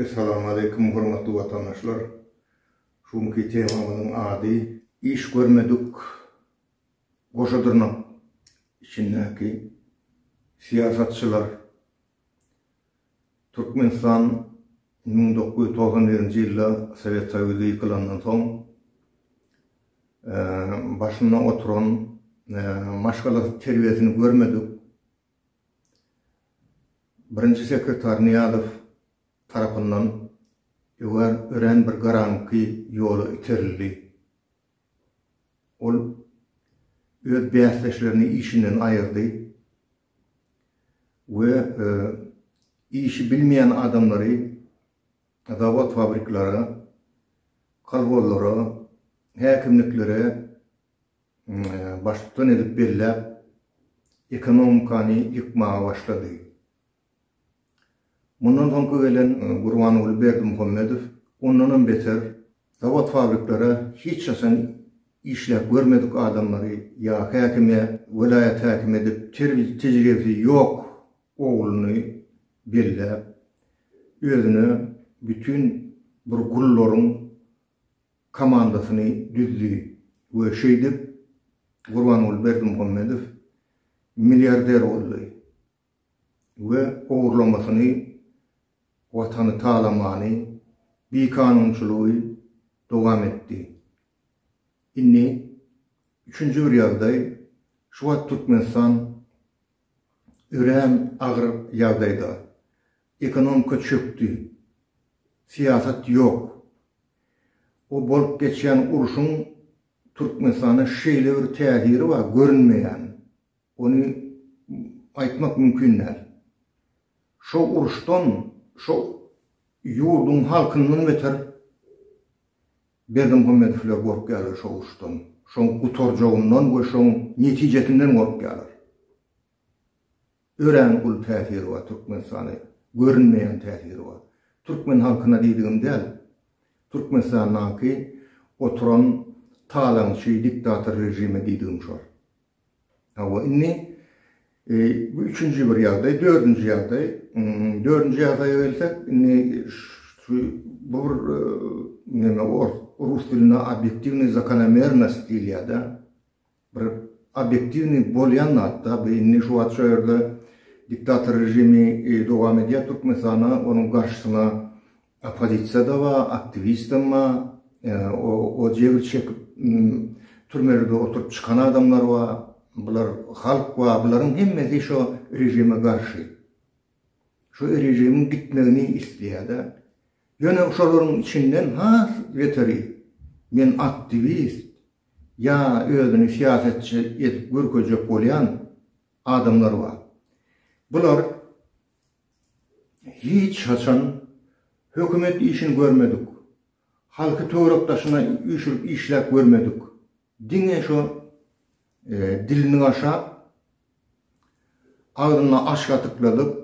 Essalamu aleýkum hormatly watandaşlar. Şu günki temamyzyň ady iş görmedik goşa dyrnak içindäki syýasatçylar Türkmenistan müň dokuz ýüz togsan birinji ýylda Sowet Soýuzy ýykylandan soň, başynda oturan, maşgalasy terbiýesini görmedik Birinji sekretar Nyýazow tarapyndan örän bir garaňky ýola iterildi. Ol öz bäsdeşlerini işinden aýyrdy. we işi bilmeýän adamlary zawod-fabriklara, kolhozlara, häkimliklere baştutan edip belläp, ekonomikany ýykmaga başlady. Mundan soňky gelen Gurbanguly Berdimuhamedow ondanam beter Zawod-fabriklere hiç haçan işläp görmedik adamlary ýa häkime, welaýat häkimi edip, terbi-tejribesi ýok ogluny belläp, özüne bütin bir gullaryň komandasyny düzdi we şeýdip Gurbanguly Berdimuhamedow milliarder boldy. we ogurlamasyny, Watany talamany, bikanunçylygy dowam etdi. Indi üçünji bir ýagdaý, şu wagt Türkmenistan örän agyr ýagdaýda. Ekonomika çökdi. Syýasat ýok. O bolup geçýän urşuň Türkmenistana şeýle bir täsiri bar, görünmeýän. Ony aýtmak mümkin däl. Şo uruşdan, şo ýurduň halkyndan beter Berdimuhamedowlar gorkýarlar şo uruşdan, şoň gutarjagyndan we şoň netijesinden gorkýarlar. Örän uly täsiri bar Türkmenistana, görünmeýän täsiri bar. Türkmen halkyna diýdigim däl, Türkmenistandaky oturan talaňçy diktator režime diýdigim şol. Hawa, indi bu üçünji bir ýagdaý, dördünji ýagdaý. Dördünji ýagdaýa gelsek, indi şu bu bir näme ors, rus dilinde obýektiwnyý zakonomernost diýilýär-de. Bir obýektiwnyý bolýan zat-da bu. Indi şu wagt şu ýerde diktator režimi dowam edýär Türkmenistanda, onuň garşysyna Oppozisiýada ba, aktiwistem ba, o jebir çekip türmelerde oturyp çykan adamlar ba, bular halk ba, bularyň hemmesi şo režime garşy. Şo režimiň gitmegini isleýärda. Ýöne şolaryň içinden has beteri men aktiwist ýa özüni syýasatçy edip görkezjek bolýan adamlar ba. Bular Hiç haçan hökümet işini görmedik, halky töwerek daşyna üýşürip işläp görmedik. Diňe şo dilini gaşap, agzyna aş gatykladyp,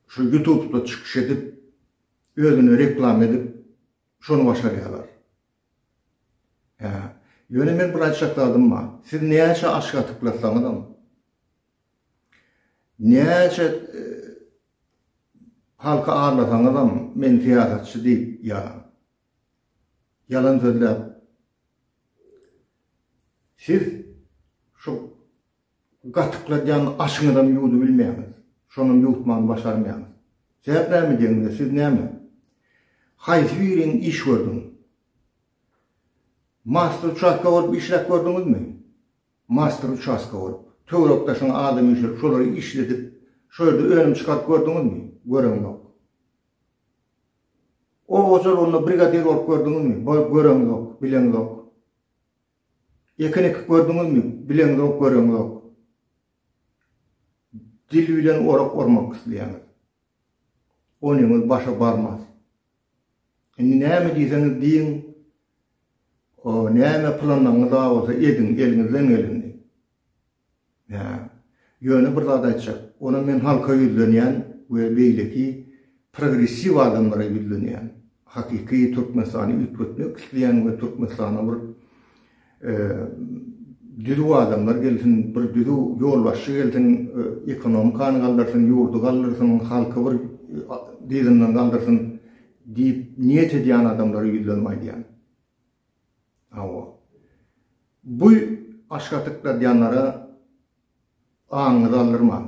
şu ýutubda çykyş edip, özüni reklama edip, şony başarýarlar. Ýöne men bir aýtjak zadym bar. Siz näçe aş gatyklasaňyzam, Näçe halky arlasaňyzam men syýasatçy diýip ýalan. Ýalan sözläp. Siz şu gatykladýan aşyňyzam ýuwdubilmeýäňiz. Şonam ýuwutmany başarmaýaňyz. Sebäp näme diýeňiz, siz näme? Haýsy biriň iş gördüň? Master uçastka bolup işläp gördüňizmi? Master uçastka bolup, töwerek daşyňa adam üýşürip, şolary işledip, şo ýerde önüm çykaryp gördüňizmi? Göreňzok. Oba hojalygynda brigadir bolup gördüňizmi? Bolup göreňzok, bileňzok. Ekin ekip gördüňizmi? Bileňzok, göreňzok. Dil bilen orak ormak isleýäňiz. Onyňyz başa barmaz. Indi näme diýseňiz diýiň, O, näme planyňyz bar bolsa ediň, eliňizden geleni. Hä. Ýöne bir zat aýtjak. Onam men halka ýüzlenýän we beýleki progressiw adamlara ýüzlenýän. Hakyky Türkmenistany üýtgetmek isleýän we Türkmenistana bir düzüw adamlar gelsin, bir düzüw ýolbaşçy gelsin, ekonomikany galdyrsyn, ýurdy galdyrsyn, halky bir dyzyndan galdyrsyn Diýip, niýet edýän adamlara ýüzlenip aýdýan. Hawa. Bu aşga tykladýanlara aňyňyzy aldyrmaň.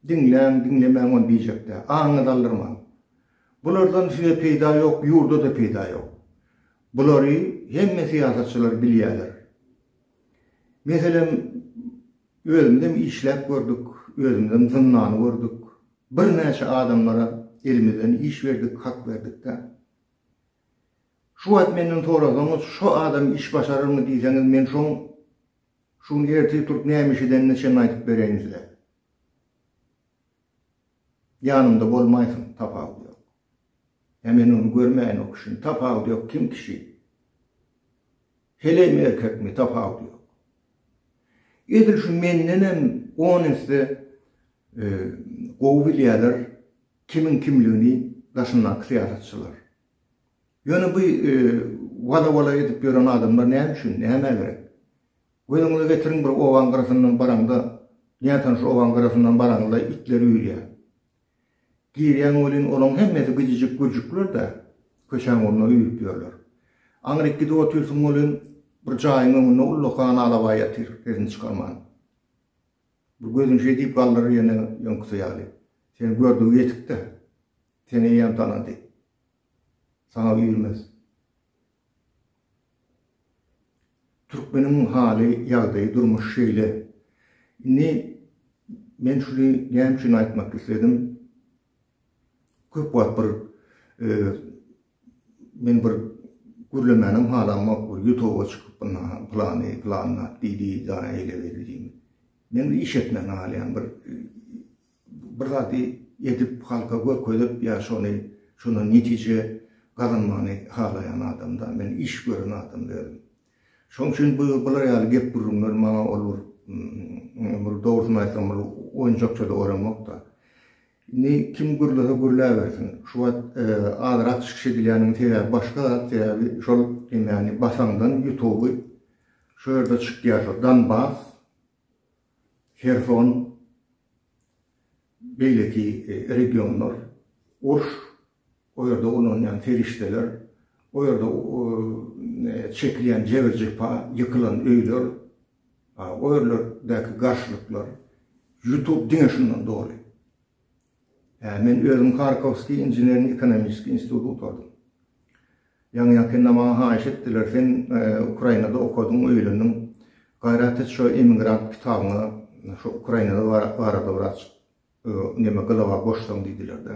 Diňläň, diňlemäň ony diýjekde. Aňyňyzy aldyrmaň. Bulardan size peýda ýok, ýurda-da peýda ýok. Bulary hemme syýasatçylar bilýärler. Meselem, özümizem işläp gördük, özümizem zyndany gördük. Bir näçe adamlara elimizden iş berdik, hak berdik-de. Şu wagt menden sorasaňyz, şo adam iş başararmy diýseňiz, men şoň şu gün ertir turup näme iş edenine çenli aýdyp bereýin size. Ýanymda bolmaýsyn, tapawudy ýok. Ýa men ony görmäýin o kişini, tapawudy ýok, kim kişi? Helämi erkekmi tapawudy ýok. Edil şu mendenem on esse gowy bilýärler kimiň kimligini daşyndaky syýasatçylar. Ýöne bu wada-wala edip ýören adamlar näme üçin, nämä gerek? Gözüňize getiriň bir obaň gyrasyndan baraňda, nätanyş obaň gyrasyndan baraňda itler üýrýär. Girýäň welin, olaň hemmesi gijijik gürjükler-dä, köçäň ugruna üýrüp ýörler. Aňryk gidip otyrsyň welin, bir jaýyň öňünde ullakan alabaý ýatyr, sesini çykarman. Bir gözüni şeý diýip galdyrar ýene öňküsi ýaly. Seni gördügi ýetik-dä. Seni eýýäm tanady. Saňa üýrmez. Türkmeniň haly ýagdaýy durmuş şeýle. Indi men şuny näme üçin aýtmak isledim. Köp wagt bir men bir gürlemänem halamok bir ýutuba çykyp buna plany plan diýdi daýy eýle beýle diýip. Men bir iş etmän galýan bir Bir zady edip halka görkezip ýa şony şondan netije gazanmagyny halaýan adamda men iş gören adam özüm. Şoň üçin bu bular ýaly gep gürrüňler maňa ol bir dogrusyny aýtsam bir oýunjakçada oramokda. Indi kim gürlese gürläbersin. Şu wagt azrak çykyş edilýäniniň sebäbi başga zat sebäbi şol emani basaňdan ýutuby şu ýerde çykýar şol danbas. Herson, beýleki regionlar, uruş, o ýerde ulanylýan serişdeler, o ýerde çekilýän jebir-jepa, ýykylan öýler, o ýerlerdäki garşylyklar, ýutub diňe şundan doly. Men özüm Harkowskiý inženerno-ekonomiçeskiý instituty gutardym. Ýaňy-ýakynda maňa haýyş etdiler, sen Ukrainada okadyň, öýlendiň, gaýrat et şo emigrant kitabyňa şo Ukraina barada biraz neme gylawa goşsaň diýdiler-de.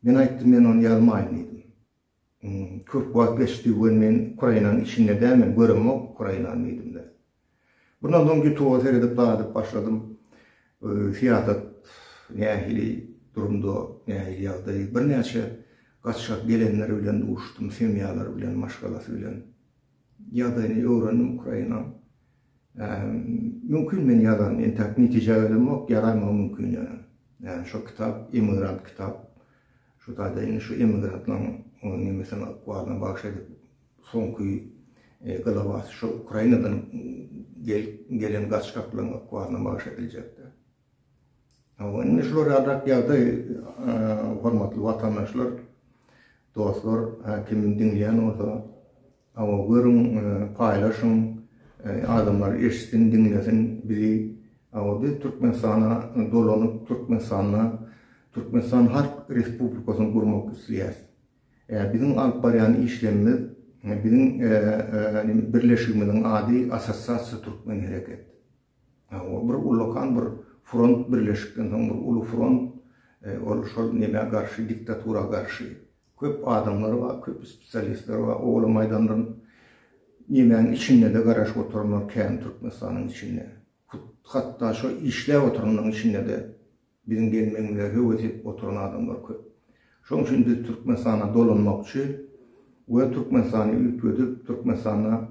Men aýtdym, men ony ýazmaýyn diýdim. Köp wagt geçdi we men Ukrainanyň içinde dälmen, göremok Ukrainany diýdimde. Bundan soň Ýutuba seredip gadyp başladym. Syýasat nähili durumda, nähili ýagdaý. Birnäçe gaçgak gelenler bilen duşdum, semýalary bilen, maşgalasy bilen. Ýagdaýyny öwrendim Ukrainanyň. Mümkin men ýazan entäk netije gelemok, ýaramagam mümkin ýöne. Ýani şo kitap emigrant kitap. Şu taýda indi şu emigrantlaň ony nemesine ykbalyna bagyş edip soňky glawasy şo Ukrainadan gelen gaçgaklaryň ykbalyna bagyş ediljekdi. Hawa indi şular ýaly ýagdaý hormatly watandaşlar, dostlar, kim diňleýän bolsa Hawa görüň paýlaşyň adamlar eşitsin diňlesin bizi hawa biz Türkmenistana dolanyp Türkmenistanda Türkmenistan halk respublikasyny gurmak isleýäs e biziň alyp barýan işlemimiz biziň birleşigimiziň ady assosiasiýa türkmen hereket. Ol bir ullakan bir front birleşikden soň bir uly front ol şol nämä garşy diktatura garşy köp adamlary bar köp spesialistleri bar ola maýdandan nämäň içindede garaşyp oturanlar kän türkmenistanyň içinde hatda şo işläp oturanlaryň içindede Biziň gelmegimize höwes edip oturan adamlar köp. Şoň üçin biz Türkmenistana dolanmakçy we Türkmenistany üýtgedip, Türkmenistanda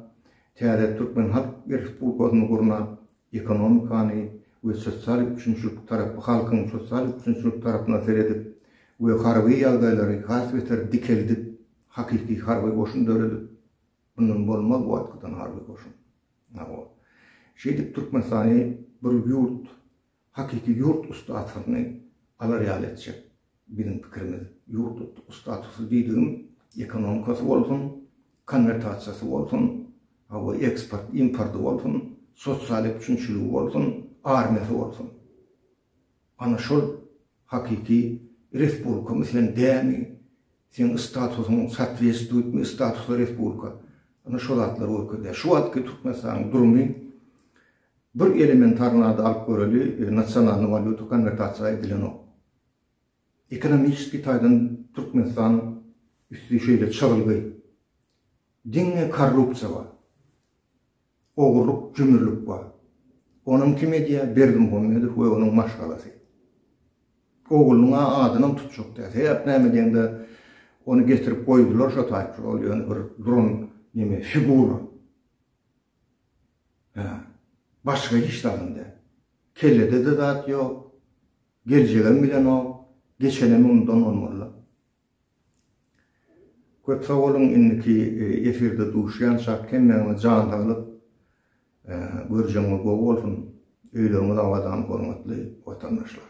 täze türkmen halk respublikasyny gurnap, ekonomikany we sosial üpjünçilik tarapy halkyň sosial üpjünçilik tarapyna seredip we harby ýagdaýlary has beter dikeldip, hakyky harby goşun döredip, mundan bolmaz bu atgydan harby goşun. Hawa. Şeýdip Türkmenistany bir ýurt. Hakyky ýurt ussatlygyny alar ýaly etjek biziň pikirimiz. Ýurt ussatlysy diýdigim ekonomikasy bolsun, konwertasiýasy bolsun, hawa eksport, importy bolsun, sosial üpjünçiligi bolsun, armiýasy bolsun. Ana şol hakyky respublikamy sen dämi, seň statusyň sootwestwitmi statusy respublika. Ana şo zatlar görkezýär. Şu wagtky Türkmenistanyň durumy Bir elementarnada alyp göreli nasionalny walýuta konwertasiýa edilenok. Ekonomiski taýdan Türkmenistan üsti şeýle çygylgy. Diňe korrupsiýa bar. Ogurlyk, jümürlik bar. Onam kim edýär? Berdimuhamedow we onuň maşgalasy. Oglunyň adynam tutjak däl. Sebäp näme diýende ony getirip goýdular şo taýply ol ýöne bir duran neme figura. Hä, başga hiç zagam däl. Kellede-de zat ýok. Geljegem bilenok. Geçenem ondan bolmaly-la. Köp sag boluň, indiki efirde duşýançak hemmäňize jan saglyk, görjegiňiz gowy bolsun, öýleriňiz abadan hormatly watandaşlar.